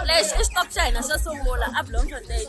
lexi i stop xa hina xo sungula a bloemfontein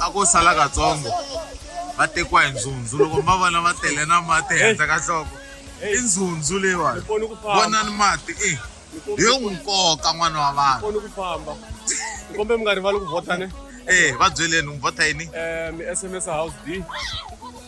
a ko sala katsongo va tekiwa hi ndzundzu loko mi va vona va tele na mati ehenhla ka nhloko i ndzundzu leyiwani vonani mati i hi n'wi nkoka n'wana wa vanhu ni famba ni kombe mi nga rivali ku vhota ne ee va byeleni n'wi vhota yini um mi sms house d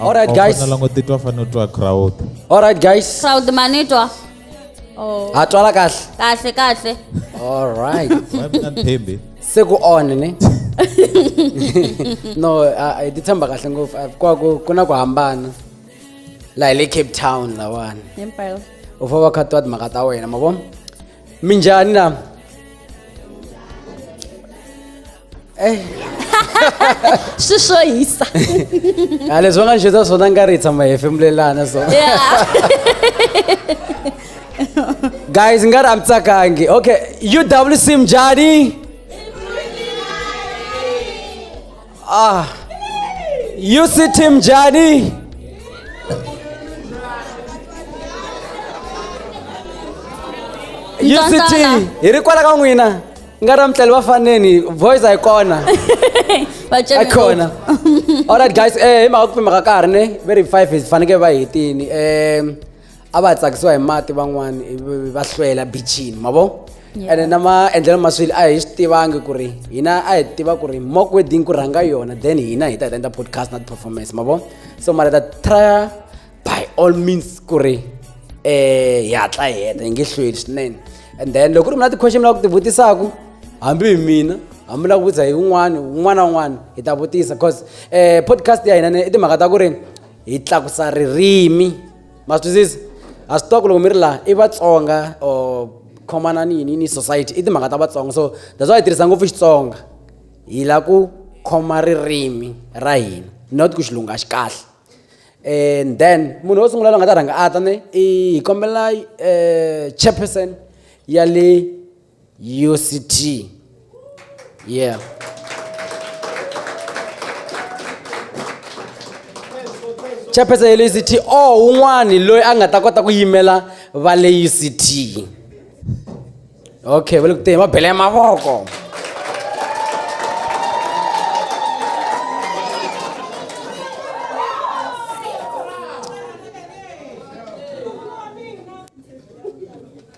All right, guys. langotetwa fane utwa crowd All right, guys. crowd manitwa oh. Ha twala kahle. kahle kahle All right. thembi Se ku on ne. No, I I dithemba kahle ngopfu. Ah, Kwa ku kuna ku hambana. La hi le Cape Town lawani. Impela. Ufova khatwa timhaka ta wena, mavona? minjhani na Eh, swi swo hisa a leswi va nga xisa swona nga ri hi tshama hi hefemulelana so guys nga ri a mi tsakangi okay uwc mjhani Ah, you see Team Jadi? UCT Ntsontswana. hi ri kwala ka n'wina nga ra mutleli va faneni voice a yi kona Vacemi a yi kona alright guys eh hi mhaka ku pima ka karhi ne very five hi fanekele va hetini um a va tsakisiwa hi mati van'wani ivi va hlwela bichini ma vo Yeah. ene na maendlelo ma swilo a hi swi tivangi ku ri hina a hi tiva ku ri mock wedding ku rhanga yona then hina hi ta hi ta endla podcast na ti-performance ma vo so mara hi ta trya by all means ku ri eh hi hatla hi heta hi nge hlweli swinene and then loko ku ri mina ti-question mi lava ku ti vutisaku hambi hi mina hambi lava ku vutisa hi un'wana un'wana na un'wana hi ta vutisa cause eh podcast ya hina ne i timhaka ta ku ri hi tlakusa ririmi ma swi twisisa a swi tiva ku loko mi ri laha i vatsonga or khomana ni yini ni society i timhaka ta vatsonga so that's why hi tirhisa ngopfu xitsonga hi la ku khoma ririmi ra hina not ku xilungu a xi kahle and then munhu wo sungula loyi nga ta rhanga a ta ne i hi kombela um chairperson ya le UCT. Yeah. chairperson ya le uct o un'wani loyi a nga ta kota ku yimela va le uct okay va le ku teni va bele mavoko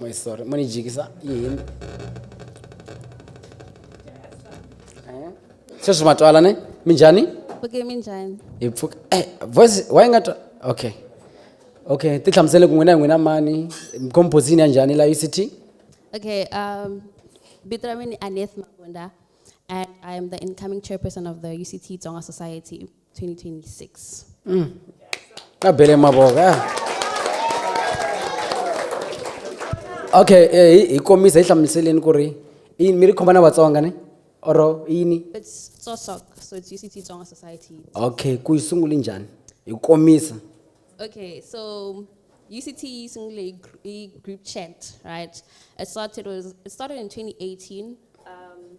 Muy sorry, muni jikisa yini? Sweswi ma twala ne? Minjhani? Okay, minjhani? Hi pfuka. Eh, voice why nga twa? Okay. Okay, ti hlamusele ku n'wina hi n'wina mani? Composition ya njhani la UCT? Okay, um, vito ra mina i Aneth Mabunda and I am the incoming chairperson of the UCT Tsonga Society. 2026. Mm. Abele maboga. Okay, eh hi kombisa hi hlamuseleni ku ri i mi ri khoma na Vatsonga ne? Oro yini? It's Tsosok, so it's UCT Tsonga Society. Okay, ku yi sungule njhani? Hi kombisa. Okay, so UCT Singly group chat, right? It started was it started in 2018. Um,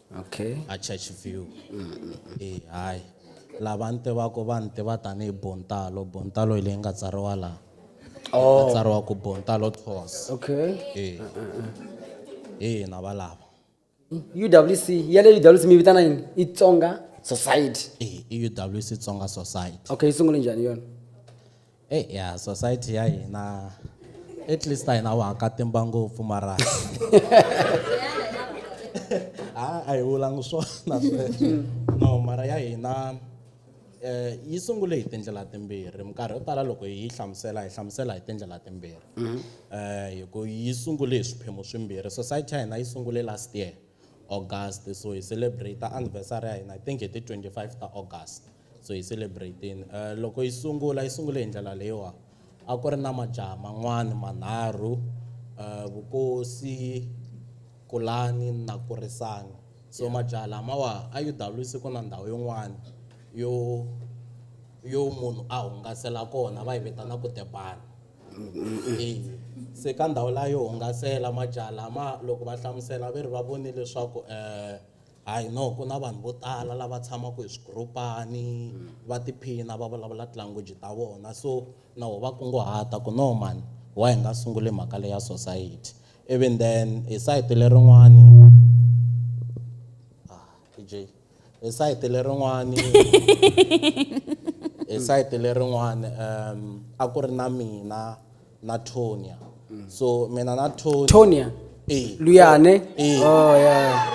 okay a church view e hayi lava ni tivaka va ni tiva tanihi bontalo bontalo hi leyi nga tsariwa laha oh. nga tsariwa ku bontalo tos okay e e na va lava uwc ya le uwc mi vitana yini i tsonga society e i uwc tsonga society okay yi sungule njhani yona Hey, eh, ya society ya hina at least a hina wahakatimba ngopfu mara a a hi vulangi swona sweswo no mara ya hina um yi sungule hi tindlela timbirhi minkarhi yo tala loko yi hlamusela hi hlamusela hi tindlela timbirhi um hi ku yi sungule hi swiphemu swimbirhi society ya hina yi sungule last year august so hi celebrate anniversary ya hina i think hi ti-twenty five ta august So hi celebrate-eni. Loko yi sungula yi sungule hi ndlela leyiwa, a ku ri na majaha man'wana manharhu, Vukosi, Kulani na Kurisani. So majaha lamawa a UWC ku na ndhawu yin'wana yo yo munhu a hungasela kona va yi vitana ku the barn. Se ka ndhawu liya yo hungasela majaha lama loko va hlamusela va ri va vone leswaku . Hayi no ku na vanhu vo tala lava tshamaka hi swigurupani va tiphina va vulavula tilanguage ta vona so na ho va kunguhata ku no mhani why hi nga sunguli mhaka leya society even then hi sayiti lerin'wani ah, PJ hi sayiti lerin'wani hi sayiti lerin'wani um a ku ri na mina na tonia so mina na tonia tonia Eh. luyane Eh. oh, yeah.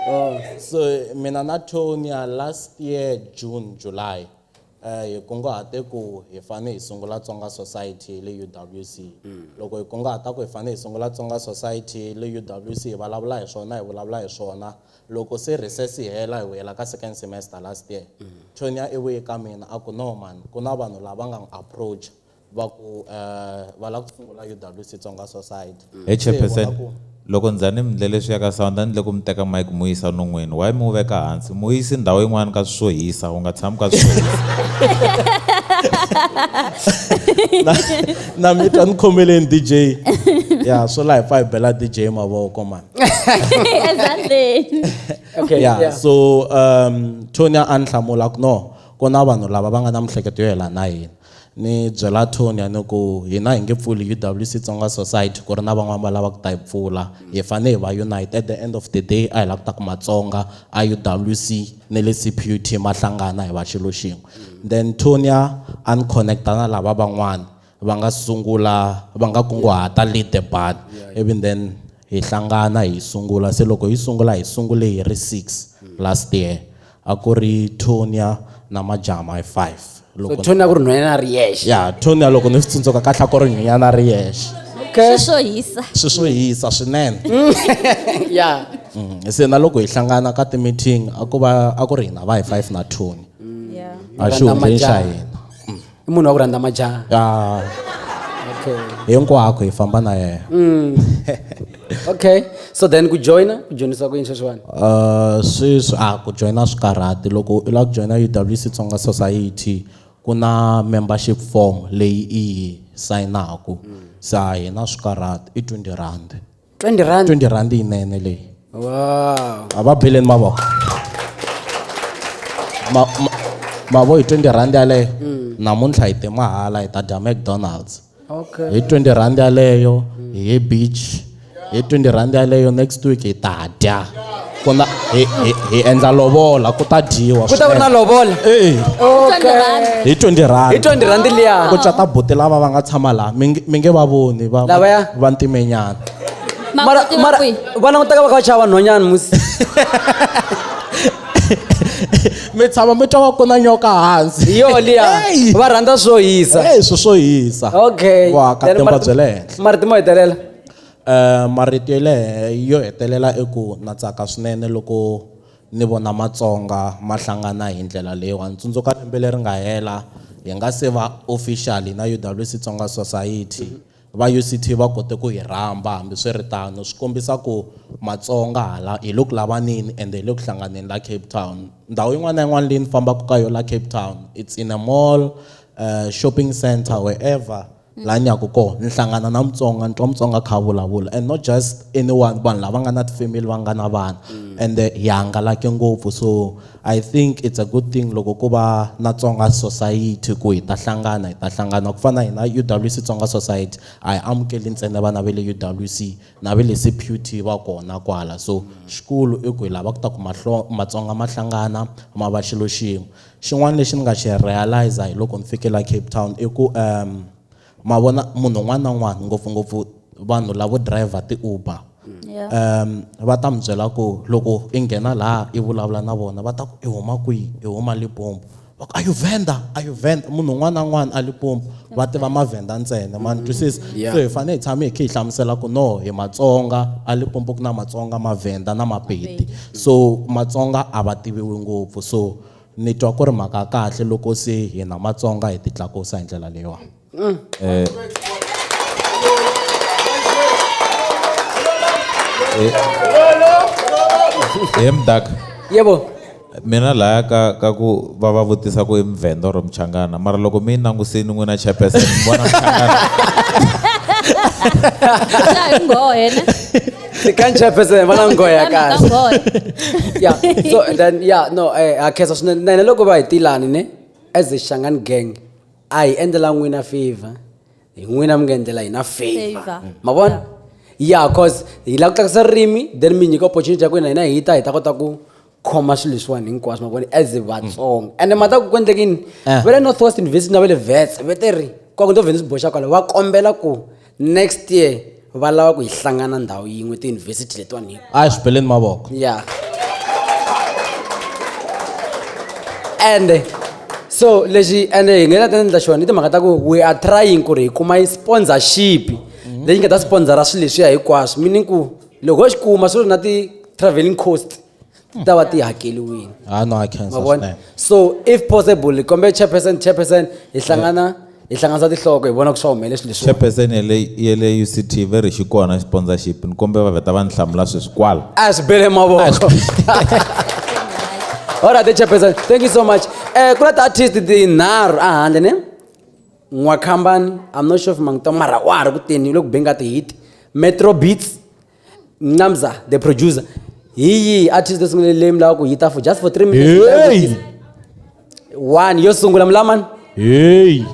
oh. so mina na tonia last year june july eh, hi kunguhate ku hi fane hi sungula tsonga society le uwc loko hi kunguhata ku hi fane hi sungula tsonga society le uwc hi vulavula hi swona hi vulavula hi swona loko se recess yi hela hi vuyela ka second semester last year tonia i vuye ka mina a ku no mani ku na vanhu lava nga n'wi approach va ku eh, va lava ku sungula UWC Tsonga Society Hey Se hi vona chairperson ku- loko ndzhani mi ndlele swi ya ka sound a ni le ku mi teka mike mu yisa non'wini why mi wu veka hansi mu yisi ndhawu yin'wana ka swi swo hisa u nga tshami ka swi swo hisa na mi twa ni khomeleni dj ya swo laha hi pfa hi bela dj mavoko mani ezandleni Okay, yeah, yeah. so um tonya a ni hlamula ku no ku na vanhu lava va nga na mihleketo yo yelana na hina Ni byela Tony a ni ku, hina hi nge pfuli UWC Tsonga Society ku ri na van'wana va lava ku ta yi pfula. Hi fanele hi va unite. At the end of the day a hi lava ku ta ku Matsonga a UWC na le CPUT ma hlangana hi va xilo xin'we. Then Tony a a ni connect-a na lava van'wana va nga sungula va nga kunguhata Lead the Band ivi then hi hlangana hi sungula se loko hi sungula hi sungule hi ri six last year a ku ri tonia na majama hi five loko so tonia ku ri nhwanyana ri yexe ya tonia loko ni swi tsundzuka kahle ku ri nhwanyana ri yexe okay. swi swo hisa swi swo hisa swinene ya mm, se na loko hi hlangana ka ti-meeting a ku va a ku ri hina va hi five na tonia mm. a xihundleni xa hina i munhu wa ku rhandza majaha ah. okay. hinkwako hi famba na yena mm. okay so then ku joina ku joinisa ku yini sweswiwani uh, sweswi a ah, ku joina swi karhati loko u lava ku joina uwc tsonga society ku na membership form leyi i yi sayinaku mm. sa hina swi karhati i 20 rand 20 rand 20 rand yinene leyi wow a va beleni mavoko ma mavo hi 20 rand yaleyo mm. namuntlha hi te mahala hi ta dya mcdonalds okay hi 20 rand yaleyo hi ye beach hi 20 rand yaleyo next week hi ta dya kona hi, hi, hi endla lovola ku ta dyiwa ku ta ku ri na lovola e okay. hi 20 rand hi 20 rand liya ku cata buti lava va nga tshama laha mi nge- mi nge va voni va Lavaya? va ntimenyana mara mara va langutaka va kha va chava nhonyana musi mi tshama mi twa va ku na nyoka hansi hi yo liya Hey! va rhandza swo hisa e swi swo hisa okay Wa ka Then temba mara- bye le henhla. mara timo hetelela Uh, marito yo lehe yo hetelela i ku na tsaka swinene loko ni vona matsonga ma hlangana hi ndlela leyiwani tsundzuka lembe leri nga hela hi nga se va officially na uwc tsonga society va uct va kote ku hi rhamba hambiswiritano swi kombisa ku matsonga hala hi le ku lavaneni and hi le ku hlanganeni la cape town ndhawu yin'wana na yin'wana leyi ni fambaka ka yona la cape town it's in a mall uh, shopping center wherever la nyaku ko ni hlangana na mutsonga ni twa mutsonga kha vulavula and not just anyone vanhu lava nga na tifamily va nga na vana mm. and eh, hi hangalake ngopfu so i think it's a good thing loko ku va na tsonga society ku hi ta hlangana hi ta hlangana ku fana hina udwc tsonga society a hi amukeli ntsena vana va le udwc na va le cput va kona kwala so xikulu i ku hi lava ku ta ku matsonga ma hlangana ma va xilo xin'we Xin'wana lexi ni nga xi realize-a hi loko ni fike la Cape Town i ku ma vona munhu un'wana na un'wana ngopfungopfu vanhu lavo driver ti-Uber va ta mi byela ku loko i nghena laha i vulavula na vona va ta ku i huma kwihi i huma Limpopo va ku are you Venda are you Venda munhu un'wana na un'wana a Limpopo. va tiva mavhenda ntsena ma ni mm-hmm. twisisa so hi fanele hi tshame hi kha hi hlamusela ku no hi matsonga a limpopo ku na matsonga mavhenda na mapedi so matsonga a va tiviwi ngopfu so ni twa ku ri mhaka kahle loko se hina matsonga hi titlakusa hi ndlela leyiwani mm. eh, eh, emdak yebo Mina laya ka ka ku va va vutisa ku i Muvhenda or Muchangana mara loko mi yi langusini n'wina chairperson mi vona Muchangana. Xa hi nghohe ne. Ni ka chairperson va na nghohe ya Mhaka kahle. nghohe. yeah so and then yeah no eh ha khensa swinene na hina loko va hi tilani ne as a Shangani gang a hi endlela n'wina favor hi n'wina mi nga endlela hina favor Favor. ma vona yeah cause hi lava ku tlakusa ririmi then mi nyika opportunity ya ku hina hina hi ta hi ta kota ku khoma swilo leswiwani hinkwaswo mavoni as vatsonga mm. ende mhata ku ku endleke yini eh. va le north west university na va le vets va te ri kwaku ndo vheni swi boxa kwala va kombela ku next year va lava ku hi hlangana ndhawu yin'we tiyunivhesiti letiwani hi a hi swi beleni mavoko ya ende so lexi ende hi nga ta ta endla xona i timhaka ta ku we are trying ku ri hi kuma yi sponsorship mhm. leyi nga ta sponsora swilo leswiya hinkwaswo meaning ku loko ho xi kuma swi ri na ti-travelling cost ti ta va ti hakeliwile ah no i can ma vona sustain so if possible hi kombela chairperson chairperson hi hlangana hi hlanganisa tinhloko hi vona ku swa humelele swilo leswi chairperson ya le ya le uct very xi kona sponsorship ni kombela va vheta va ni hlamula sweswi kwala a swi bele mavoko all right chairperson thank you so much um ku na ti-artist tinharhu ehandle ne N'wakhambani, I'm not sure if mangitwa mara wa ha ri kuteni u le ku beni ka ti-hit metro beats nqamza the producer hi yihi artist leswi nga leyi mi lava ku yi ta for just for three minutes yi ta Hey! vutisa. one yo sungula mulamani Hey!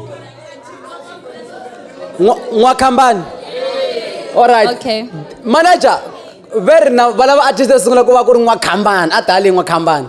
N'wa- n'wakhambani alright Okay. manager very now valava artist yo sungula ku va ku ri n'wakhambani a tali n'wakhambani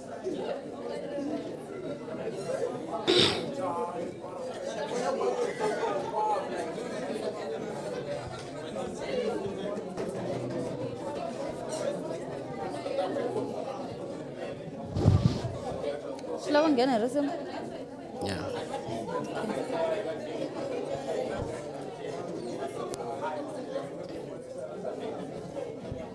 swi lava nghena hi risimu yeah.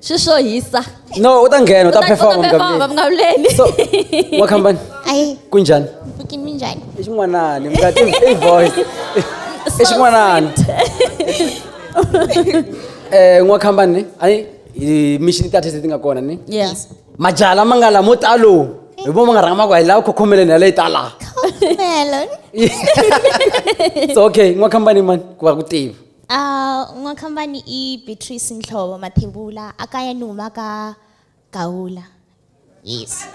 Shishohisa. no u ta nghena u ta perform performa mukavuleli so wa kambani ayi kunjhani bukini minjhani i xin'wanani mukati i voice i xin'wanani um n'wa kambani ni a ni mixini ta tese ti nga kona ni yes majala ma nga la mo talo hi vo ma nga rhanga ma ku hi lava khokhomeleni ya leyi tala so okay n'wa kambani mani ku va ku tiva A N'wakhambani i Beatrice Nhlovo Mathebula a kaya ni huma ka Gawula. Yes.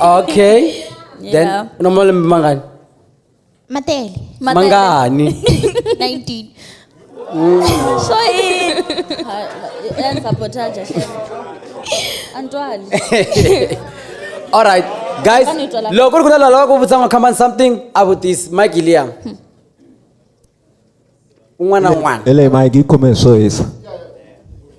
okay then Yeah. u na malembe mangani Matele. mangani 19. so i- ha- enza potaja antwali all right guys Fane utswala. loko ku ri ku na lava ku vutisa n'wakhambani something a vutisi mike liam un'wana na un'wana ele mike yi khome hi swo hisa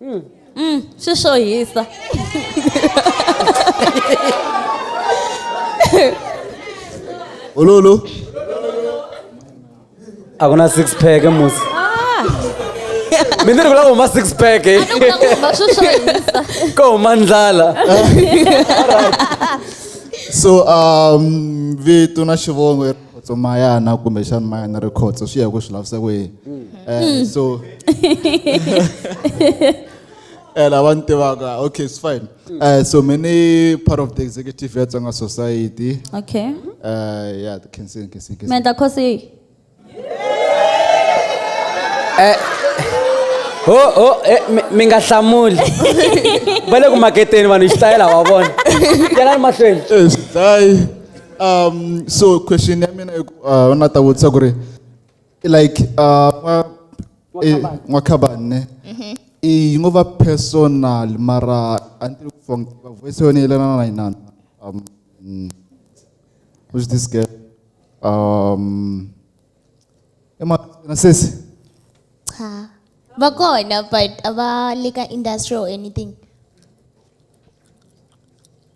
Mm. Mm, swi swo hisa ololo a ku na six pack musi mi ni ri ku lava huma six pack eh. ma swi swo hisa ko huma ndlala so um vito na xivongo khotso mayana kumbexana mayana ri khotso swi ya ku swi lavisa ku yini um so eh, lava ni tivaka okay it's fine um so me ni part of the executive ya tsonga society okay um ya khensin khensin khensin mendla khosi yihi ho ho eh, mi- mi nga hlamuli va le ku maketeni vanhu xitayela wa vona yanani mahlweni Eh, swi dlayi um so question ya mina uh, na ta vutisa ku ri like uh, n'wakhabane mm-hmm. i ngo va personal mara a ni tivi ku fong va voice yona yelelana na yinana um mm. who's this girl um emahlweni sesi cha va kona but a va le ka industry or anything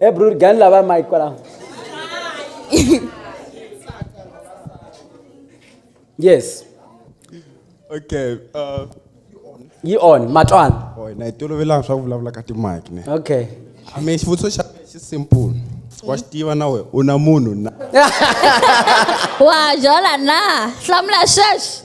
ebrur gan la ba mai kwala yes okay uh yi on matwana oh na itolovela swa ku vulavula ka timike ne okay i mean xivutiso xa xi simple wa xi tiva na we u na munhu na wa jola na hlamula sweswi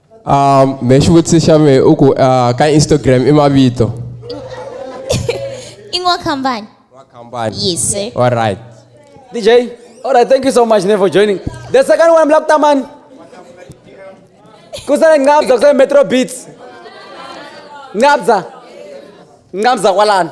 um me xivutiso xa me u ku uh, ka instagram i mavito i n'wa kambani wa kambani yes sir all right dj all right thank you so much for joining the second one black taman kusale ngabza kusale metro beats ngabza ngabza kwalana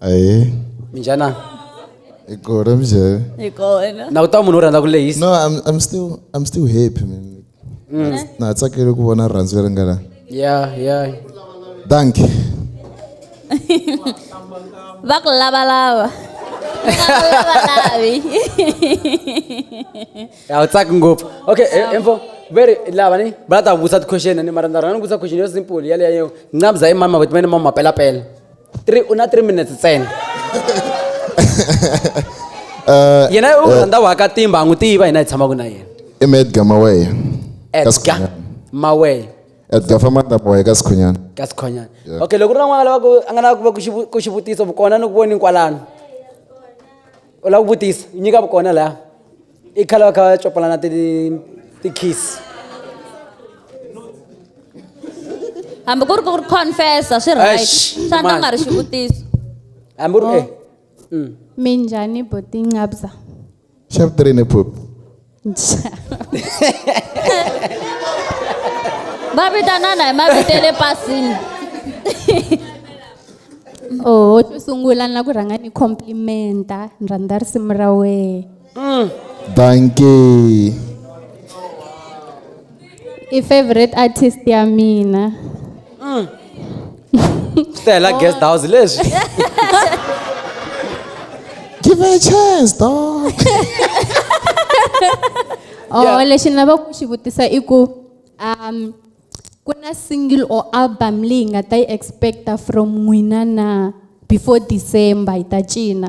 Aye. Minjana. Ikora mzee. Ikona. Na uta munhu rhandza ku lehisa. No, I'm I'm still I'm still happy man. Mm. Na tsakile ku vona rhandzu leri nga la. Yeah, yeah. Thank you. Va ku lava lava. Lavalavi. Ya utsaki ngopfu. Okay, eh, info. Very lava ni brother vusa question ni mara ndza rhandza ku vusa question yo simple yale yayo. Ngcabza imama but mene mama pela pela. Three- u na 3 minutes ntsena Eh, yena u rhandza waka timba a n'wi tiva hina hi tshamaka na yena i mi edgar maweya edgar maweya edgar famanda maweya ka sikhunyana ka sikhunyana Yeah. okay loko u ri na n'wana lavaku a nga lava ku va ku xivu- ku xivutiso vukona ni ku voni kwalano u lava ku vutisa nyika vukona laya i khale va kha va copalana ti ti-kiss hambi ku ri ku ri confessa swi right Eish, swa ndza nga ri mani. xivutiso hambi u ri eh mm. Minjani boti ngabza. Chef Trini Poop. va vitanana hi mavito ya le pasini Oh, xo sungula na ku rhanga ni complimenta ni rhandza risimu ra wehe. Mm. Dankie. I favorite artist ya mina. Mm. Stella guest house leswi. Give her a chance, dog. oh, yeah. lexi ni lava ku xi vutisa i ku um ku na single or album leyi nga ta yi expecta from n'wina na before december hi ta cina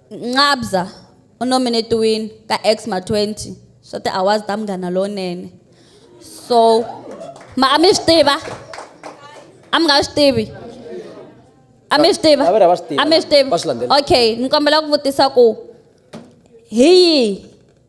Nqabza u nominetiwile ka Xma 20 swa ti-awards ta Munghana Lonene. So ma a mi swi tiva? A mi nga swi tivi? A mi swi tiva? Lavera va swi tiva. A mi swi tiva? Va swi landzela. Okay, ni kombela ku vutisa ku hi yihi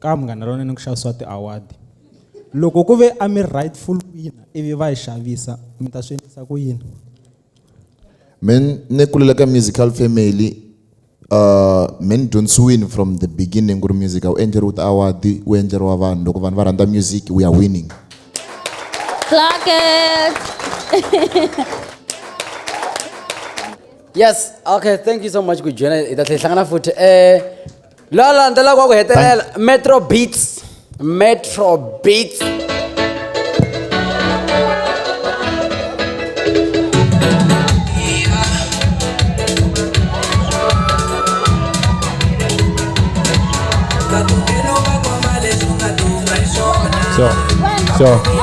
Ka Munghana Lonene ku xavisiwa ti award. Loko ku ve a mi rightful winner ivi va yi xavisa mi ta swi endlisa ku yini? Me ni kulela ka musical family uh me ni dyondzisiwini from the beginning ku ri music a wu endleriwi ti award wu endleriwa vanhu loko vanhu va rhandza music we are winning. Clackers. Yes, okay, thank you so much ku hi joina hi ta tlhela hi hlangana futhi. Eh la landzela kwa ku hetelela metro beats metro beats So, so.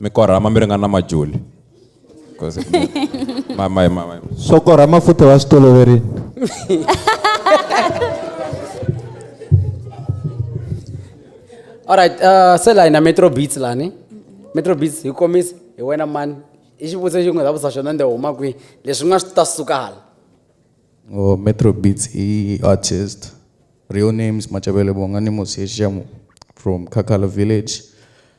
mi korhama mi ringana na majuli swo korhama futhi wa swi toloverini alright uh, se la hina metro beats lani metro beats hi komisa hi wena mani i xivutiso xin'we za vusa xona nde huma kwihi leswi nga swi ta suka hala oh, metro beats i artist real names machavele bonga ni mosexamu from kakala village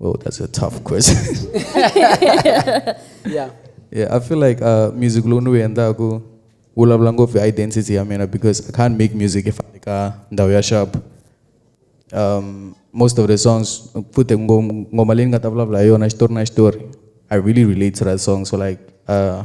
Oh, that's a tough question. yeah. Yeah, I feel like uh, music lunu yenda ku ulabla ngofu identity ya mina because I can't make music if I ka ndaw ya sharp. Um, most of the songs put ngoma leyi nga ta vulavula hi yona xitori na xitori I really relate to that song so like uh,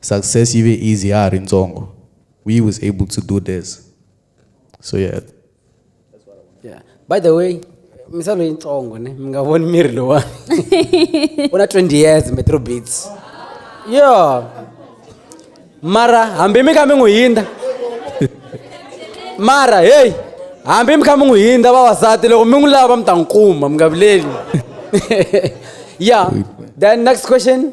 Success yi ve easy ya ha ri ntsongo. We was able to do this. So yeah. Yeah. By the way, misalo yitsongo ne mi nga voni miri lowa u na 20 years metro beats yo mara hambi mi kha mi n'wi hindza mara heyi hambi mi kha mi n'wi hindza vavasati loko mi n'wi lava va mi ta n'wi kuma mi nga vileli yeah then next question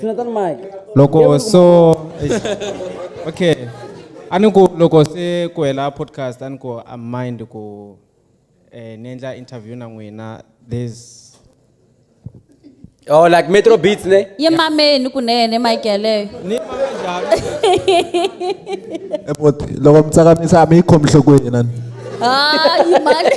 Jonathan Mike. Loko so okay. A ni ku loko se ku hela podcast a ni ku a mind ku eh ni endla interview na n'wina there's Oh like Metro Beats ne? Ye mameni kunene mic yaleyo. ni mame njhani? Ebot, loko mi tsakamisa a mi yi khomi nhlokweni na ni. Hayi mali.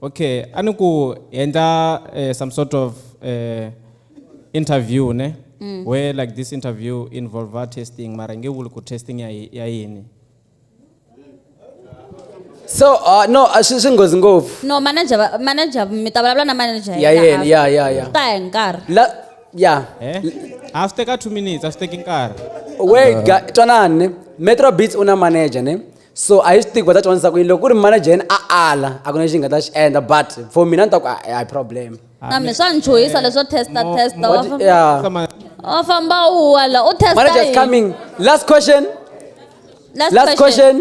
okay a ni ku hi endla eh, some sort of eh, interview ne mm. where like this interview involve our testing mara nge vuli ku testing ya yi- ya yini so uh, no a swi swi nghozi ngopfu no manager va- manager mi ta vulavula na manager ya yena yena after. ya ya ya ta ya hi nkarhi la ya eh? a swi teka two minutes a swi teki nkarhi wait ga- twanani ne metro beats u na manager ne so a hi swi tivi va ta dyondzisa ku yini loko ku ri manajeni a ala a ku na lexi nga ta xi endla but for mina ni ta ku a a hi problem na mina swa ni chuhisa leswo testa testa wa What- famba- yeah. Sama- wa famba u wa la u testa manager is yini? coming last question Last last question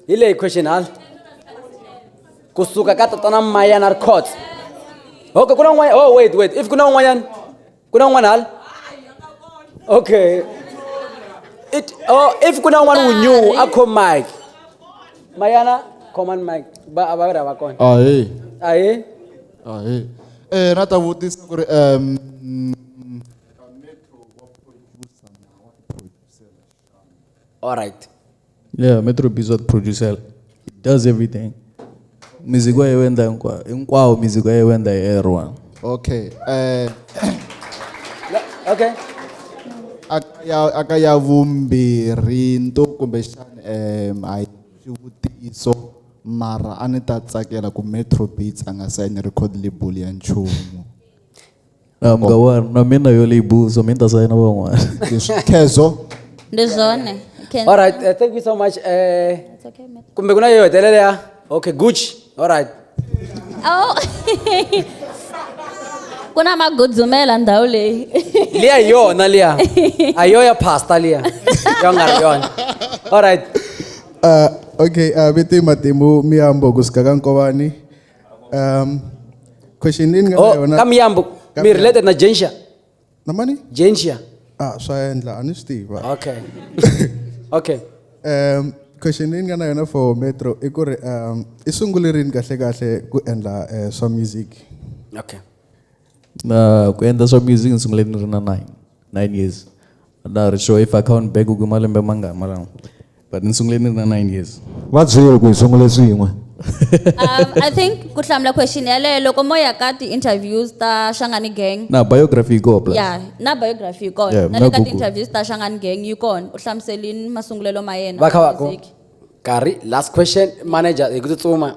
hi leyi question hala kusuka ka tatana mayana ri court okay ku na un'wanyana oh wait wait if ku na un'wanyana ku na un'wana hala okay it oh if ku na un'wana wu new a khom mike mayana command mike ba a va ri hava kona ahe ahe ahe eh na ta vutisa ku ri um All right. Yeah, Metro Bs wa producer. He does everything. Music wa yewenda nkwa. Nkwa music wa yewenda everyone. Okay. Eh uh, Okay. Akaya akaya vumbirhi nto kumbe xana um I xivutiso mara a ni ta tsakela ku Metro Beats a nga sign record label ya nchumu. na mga wanu na mina yo leyi buzo mi ni ta sayina van'wana khezo ndi zwone Can- all right uh, thank you so much eh It's okay, ma'am. kumbe kuna yo hetelela ya okay gucci all right Oh. ku na magudzumela ndhawu leyi liya hi yona liya a yo ya pasta liya yo nga ri yona all right Uh, okay, uh, vito i Matimu Miyambo kusuka ka Nkovani. Um, question leyi ni nga na oh yona kamiyambo mi Kamiyambo. related na jensia na mani jensia ah swa endla a ni swi tiva okay okay um question leyi ni nga na yona for metro i ku ri um i sungule rini kahle kahle ku endla eh, swa music okay Na ku endla swa music ni sungule ni ri na nine nine years. A na ha ri sure if I count back ku i malembe mangani mara but ni sungule ni ri na nine years. Va byeli ku hi sungule swin'we. Um I think ku hlamula question yaleyo loko mo ya ka ti interviews ta Shangani Gang. Na biography yi koho plus. Ya na biography yi kona Yeah, na le ka na ti Google. interviews ta Shangani Gang yi kona u hlamuselini masungulelo ma yena Va kha va ku music. nkarhi last question manager hi ku tsutsuma.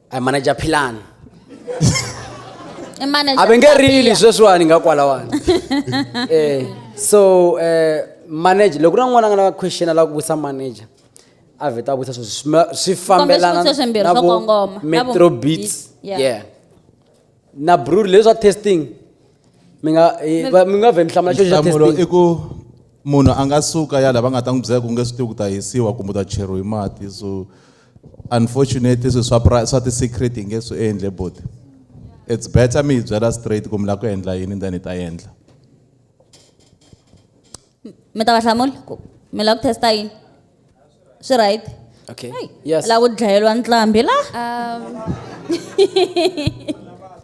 I manager Philani. I manage a va nge rili sweswiwani nga kwalawani eh so eh manager loko na n'wana a nga na question a lava ku vutisa manager a vheta a vutisa sweswi swi ma- swi fambelana swivutiso swimbirhi na swo vo kongoma, na vo metro beats beats, yeah. yeah na brew leswi swa testing mi nga eh, va- mi nga vhe mi hlamula xo xa nhlamulo i testing ku munhu a nga suka ya lava nga ta n'wi byela ku nge swi tivi ku ta hisiwa kumbe u ta cheriwa hi mati so unfortunately swilo swa pra swa ti-secret hi nge swi endle buti it's better mi hi byela straight ku mi lava ku endla yini then hi ta endla mi ta va hlamula ku mi lava ku testa yini swi right okay Hey, yes lava ku dlayeliwa ntlambi la Um,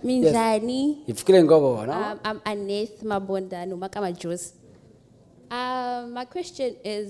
minjhani hi pfukile hi ngo vona um, i'm aneth mabonda ni huma ka majosi um, my question is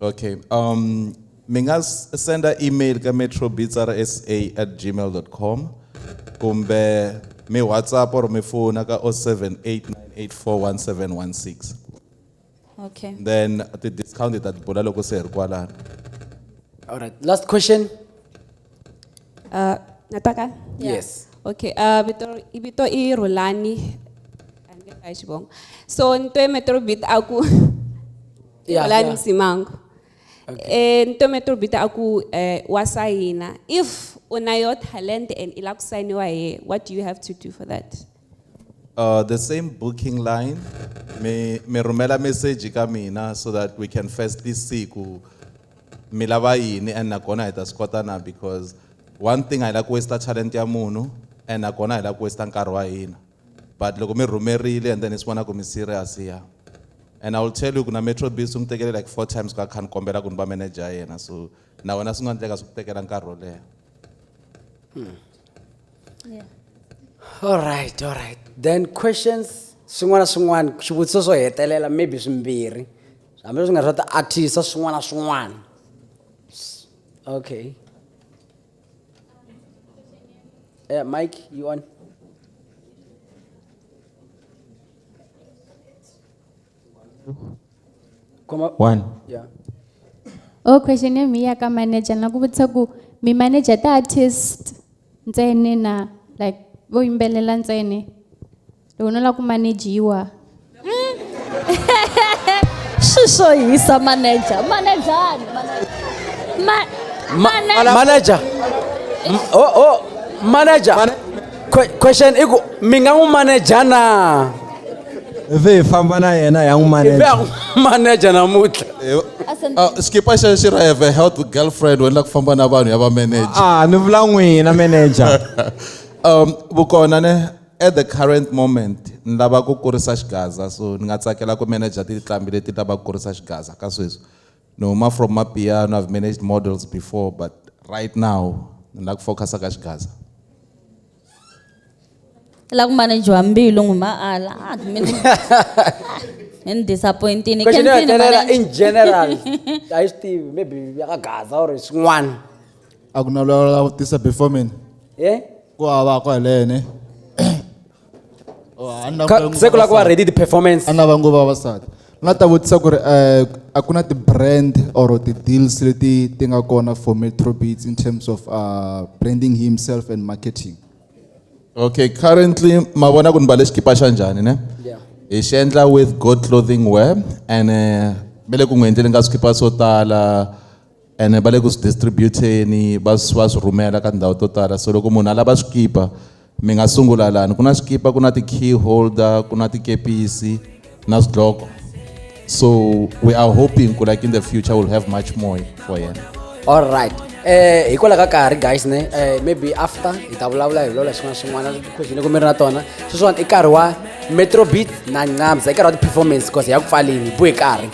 Okay. Um, mi nga s- senda email ka metrobitsarsa at gmail.com kumbe mi whatsapp or mi fona ka 0789841716 Okay. then ti-discount hi ta ti bula loko se hi ri kwalano All right. Last question. Uh, nataka? Yes. Okay, uh, vito, i vito i Rulani. Angeka xivongo. So, nto e Metrobit aku Yeah, Olani yeah. Msimango. Eh nto me turbita aku eh wasayina. If una your talent and ila kusayiniwa here, what do you have to do for that? Uh, the same booking line, me, me rumela message ka mina so that we can firstly see ku mi lava yini and nakona hi ta swi kota na because one thing a hi la ku waste talent ya munhu and nakona a hi la ku waste nkarhi wa hina. but loko mi rhumerile and then ni swi vona ku mi serious ya and i will tell you ku na metro biz swi n'wi tekele like four times ku a kha ni kombela ku ni va manager ya yena so na wena swi nga endleka swi ku tekela nkarhi wo leha Yeah. all right all right then questions swin'wana na swin'wana swivutiso swo hetelela maybe swimbirhi hambileswi nga swa ti-artisa swin'wana na swin'wana okay Uh, Mike, you on? Come up. One. Yeah. Oh, question ya mi ya ka manager na ku vutisa ku mi manager ta artist ntsene na like vo yimbelela ntsene loko no lava ku manejiwa hmm? swi swo hisa manager manejani manager o oh, oh, manager question i ku mi nga n'wi maneja na ivi hi famba na yena ya n'wi maneja maneja namuntlha ah, skipa xexo xi ra have a health girlfriend wena la ku famba na vanhu ya va manager a ah, ni vula n'wina manager um vukona ne At the current moment ni lava ku kurisa xigaza so ni nga tsakela ku manager tinqambi leti lava ku kurisa xigaza ka sweswi ni huma from mapiano I've managed models before but right now ni lava ku focus ka xigaza la ku manager mbilu nguma ala ah mina ni ni disappointini question ya Kempini, hetelela manager. in general a yi swi tivi maybe ya ka gaza or swin'wana a ku na loyi a vutisa before mina eh ku hava ko helene Oh, a ni na Ka- vangu se ku la ku va vavasati. ready ti-performance a ni na vangu vavasati ni nga ta vutisa ku ri um a ku na ti-brand or ti-deals leti ti nga kona for metrobeats in terms of uh, branding himself and marketing okay currently ma vona ku ni mbale xikipa xa njhani ne Yeah. hi xi endla with good clothing wear and eh, me le ku n'wi endleni ka swikipa swo tala ene va le ku swi distributeni va va swi rhumela ka tindhawu to tala so loko munhu a lava swikipa mi nga sungula lani ku na swikipa ku na ti-key holder ku na tikepisi na swidloko so we are hoping ku like in the future will have much more for yena all right eh hikwalaho ka karhi guys ne eh, maybe after hi ta vulavula hi lola xin'wana xin'wana question loko mi ri na tona sweswiwani i nkarhi wa metrobit na ncamsa i nkarhi wa ti-performance because hi ya ku pfaleni hi buhe karhi